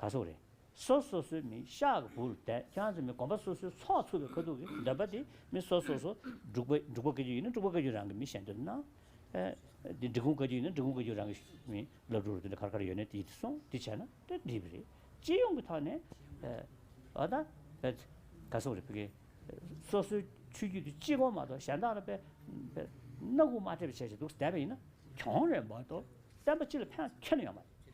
ག་སོགས་རེད། སོ་སོ་སོའི་མིང་ཤག་གི་བུར་བསྡད་ཁྱོད་ཚོས་མི་གོམས་པ་སོ་སོའི་ཚོགས་ཚུགས་པའི་ཁ་ཐུག་གི་འདོད་པ་དེ་མི་སོ་སོ་སོ་འབྲུག་པ་འབྲུག་པ་བཀའ་རྒྱུད་ཡིན་ན་འབྲུག་པ་བཀའ་རྒྱུད་རང་གི་མི་བཤད་འདོད་ན། འདི་འབྲི་གུང་བཀའ་རྒྱུད་ཡིན་ན་འབྲི་གུང་བཀའ་རྒྱུད་རང་གི་མི་སློབ་ཕྲུག་རུ་དེ་འདྲ་གར་གར་ཡོད་ནས་དེ་སོང་དེ་བྱས་ན་དེ་འགྲིག་པ་རེད། སྤྱི་ཡོངས་ཀྱི་ཐོག་ནས་ཨོ་ད་ག་སོགས་རེད། སོ་སོའི་ཆོས་རྒྱུད་དུ་གཅིག་གོ་མ་གཏོགས་གཞན་དག་ལ་དཔེ་སྣ་དགུ་མ་སྤྲད་པའི་བྱས་བྱས་འདུག་བསྡད་པ་ཡིན་ན་གྱོང་རེད་མ་གཏོགས་བསྟན་པ་སྤྱི་ལ་ཕན་ཁྱོན་ཡོད་མ་རེད།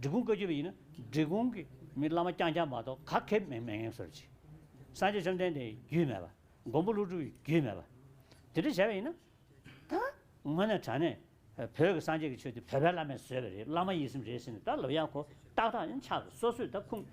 འབྲི་གུང་བཀའ་བརྒྱུད་པ་ཡིན་ན་འབྲི་གུང་གི་མི་བླ་མ་རྐྱང་རྐྱང་མ་གཏོགས་ག་གེ་མོས་མེད་ངེས་གསོལ་ཅིག། སངས་རྒྱས་བཅོམ་ལྡན་འདས་ཡི་རྒྱུད་མེད་པ། མགོན་པོ་ཀླུ་སྒྲུབ་ཡི་རྒྱུད་མེད་པ། དེ་འདྲ་བྱས་པ་ཡིན་ན། ད་ངོ་ནས་དྲ་གནས་བོད་ཀྱི་སངས་རྒྱས་ཀྱི་ཆོས་དེ་བོད་པའི་བླ་མས་བཟོས་པ་རེད་བླ་མ་ཡིད་སེམས་རེད་ཟེར་ནས་ད་ལོ་ཡག་གོ་ཏག་ཏག་ཡང་ཆགས་སོ་སོས་ད་ཁུངས་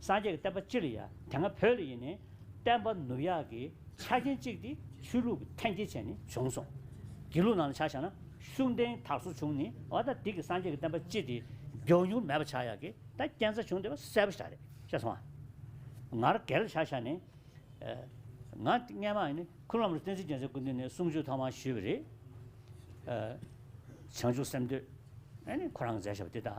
སངས་རྒྱས་ཀྱི་བསྟན་པ་ཅི་ལ་ཡ། དེ་སྔ་བོད་ལ་ཡིན་ནས་བསྟན་པ་ནུབ་ཡག་གི་ཆ་རྐྱེན་གཅིག་དེ་ཆོས་ལུགས་ཀྱི་འཐེན་འཁྱེར་བྱས་ནས་བྱུང་སོང། དགེ་ལུགས་ནང་ལ་ཆ་བཞག་ན་ཤུགས་ལྡན་དག་སོ་བྱུང་ནས་ཨོ་ད་དིག་གི་སངས་རྒྱས་ཀྱི་བསྟན་པ་ཅི་དེ་མགྱོགས་མྱུར་མེད་པ་ཆགས་ཡག་གི་ད་རྐྱེན་རྩ་བྱུང་དེ་བ་གསལ་པོ་ཞག་རེད་ཤེས་སོང་ཨ། ང་ར་གེ་ལ་ཆ་བཞག་ནས་ང་སྔན་མ་ནི་ཁུ་ལུམ་ར་བསྟན་འཛིན་རྒྱལ་མཚན་སྐུ་མདུན་ནས་གསུང་ཆོས་ཐོག་མར་ཞུས་པ་རེད། བྱང་ཆུབ་སེམས་འདོད་ཨ་ནི་ཁོ་རང་གི་མཛད་བྱ་བ་དེ་དག་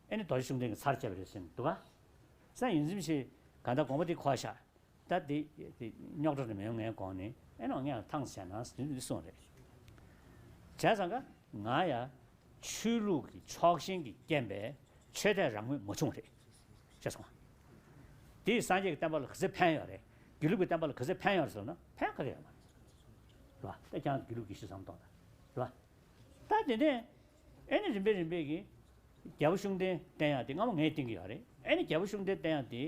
ཨེ་ནི་རྡོ་རྗེ་གསུམ་ལྡན་གྱི་ཚར་བཅད་པ་རེད་ཟེར་ནི་འདུག་ག། སང་ཡིན་ཚིམ་ཞིག། ག་ད་དགོངས་པ་འདི་གོ་བཞག། ད་འདི། རྙོག་དྲ་རེ་མི་ཡོང་ངས་དགོངས་ནི་ཨེ་ནོ་ངས་ཐང་བྱས་ན་ཟིན་འདི་སོང་རེད། བྱས་ཙང་ག། ང་ཡ། ཆོས་ལུགས་ཀྱི་ཕྱོགས་ཞེན་གྱི་རྐྱེན་པས་ཆོས་དད་རང་མོས་མ་བྱུང་རེད། ཤེས་སོང་ང། དེས་སངས་རྒྱས་ཀྱི་བསྟན་པ་ལ་ག་ཚད་ཕན་ཡོད་རེད། དགེ་ལུགས་ཀྱི་བསྟན་པ་ལ་ག་ཚད་ཕན་ཡོད་རེད་ཟེར་ན་ཕན་ག་གེ་ཡོད་མ་རེད། རེད་པ། ད་ཀྱང་དགེ་ལུགས་ཀྱི་ཤི་བསམ་སྟོང་ད། རེད་པ། ད་དེ་ནས། ཨེ་ནི་རིམ་པས་རིམ་པས་ཀྱི། རྒྱལ་པོ་ཤུགས་ལྡན་བསྟན་ཡང་དེ་སྔ་མོ་ངས་བསྟན་གྱི་ཡོད་རེད་ཨེ་ནི་རྒྱལ་པོ་ཤུགས་ལྡན་བསྟན་ཡང་དེ།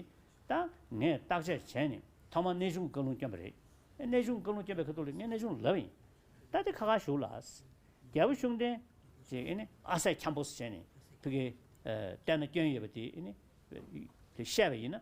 ད་ངས་བརྟག་དཔྱད་བྱས་ནས་ཐོག་མར་གནས་ཆུང་བཀའ་ལུང་བསྐྱོན་པ་རེད་ཨེ་གནས་ཆུང་བཀའ་ལུང་བསྐྱོན་པའི་ཁ་ཐུག་ལ་ངས་གནས་ཆུང་ལབ་ཡིན། ད་དེ་ཁ་ཁར་བཞུགས་ལ། རྒྱལ་པོ་ཤུགས་ལྡན། ཅེས་ཨེ་ནི་ཨ་སད་འཁྱམས་པོ་སུ་བྱས་ནས་ཕི་གས་བསྟན་ན་བསྐྱོན་ཡོད་པ་དེ་ཨེ་ནི། བཤད་པ་ཡིན་ན།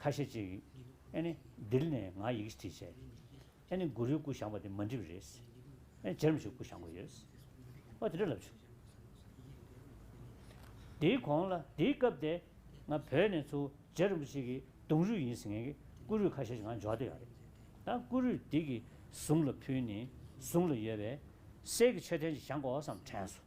ཁ་ཤས་ཅིག་ཨེ་ནི་དིལ་ནས་ང་ཡིག་བྲིས་བྱས་ཨེ་ནི་གུ་རུའི་སྐུ་བཞེངས་པ་དེ་མ་འགྲིབ་རེད་ཨེ་ཇེར་མ་ཞིག་སྐུ་བཞེངས་དགོས་ཡོད་ཨོ་དེ་འདྲ་ལབ་བྱུང། དེའི་གོང་ལ་དེའི་སྐབས་དེ་ང་བོད་ནས་ཚུར་ཇེར་རིན་པོ་ཆེ་གི་གདུང་རུས་ཡིན་ཟེར་མཁན་གི་སྐུ་རུས་ཁ་ཤས་ཅིག་ང་འཇོག་བསྡད་ཡོད་རེད་ད་སྐུ་རུས་དེ་གི་ཟུང་ལ་ཕུལ་ནས་ཟུང་ལ་ཡོད་པའི་གསེར་གི་མཆོད་རྟེན་ཅིག་བཞེངས་དགོས་སམ་དྲན་སོང།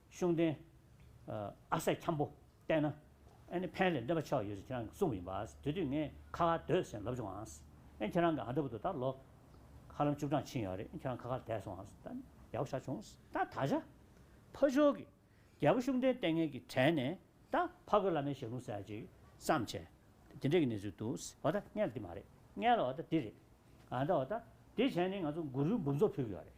ཤུགས་ལྡན། ཨ་སད་འཁྱམས་པོ། བལྟས་ན། ཨ་ནི་ཕན་ལས་འདས་པ་ཆགས་ཡོད་ཅེས་ཁྱེད་རང་གིས་གསུངས་པ་ཡིན་པ། དེ་དུས་ངས་ཁ་ཁར་སྡོད་ཟེར་ལབ་བྱུང་ཨང། ཨེ་ཁྱེད་རང་གི་ཨ་མདའ་བུ་དེ་ད་ལོ། ཧ་ལམ་བཅུ་གྲངས་ཕྱིན་ཡོད་རེད་ཨེ་ཁྱེད་རང་ཁ་ཁར་བསྡད་སོང་ཨང། ད་ནི་ཡག་པོ་ཆགས་བྱུང། ད་ད་ཆ། ཕ་ཆོས་ཀྱིས། རྒྱལ་པོ་ཤུགས་ལྡན་ལྟས་ངན་གྱིས་དྲན་ནས། ད་ཕ་རྒོད་བླ་མའི་ཞལ་ལུང་གསལ་ཅིག་བསམ་བྱས། དེ་འདྲའི་གི་གནས་ཚུལ་འདུག་ཨོ་ད་ངས་ལ་འདི་མ་རེད། ངས་ལ་ཨོ་ད་འདི་རེད། ཨ་མདའ་ཨོ་ད། དེ་བྱས་ནས་ང་ཚོ་མགོ་རུལ་འབུམ་ཚོགས་ཕུལ་གྱི་ཡོད་རེད།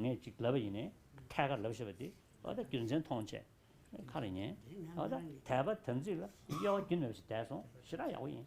ངས་ཅིག་ལབ་པ་ཡིན། ཐད་ཀར་ལབ་ཤེས་པ་དེས་རྒྱུ་མཚན་མཐོང་ཆེད་ཁ་རུ་ཉན། དད་པ་དམ་ཚིག་ལ་གཡོ་བ་རྒྱུན་མེད་པ་ཞིག་དད་སོང་ཞེ་དྲག་ཡག་པོ་ཡིན།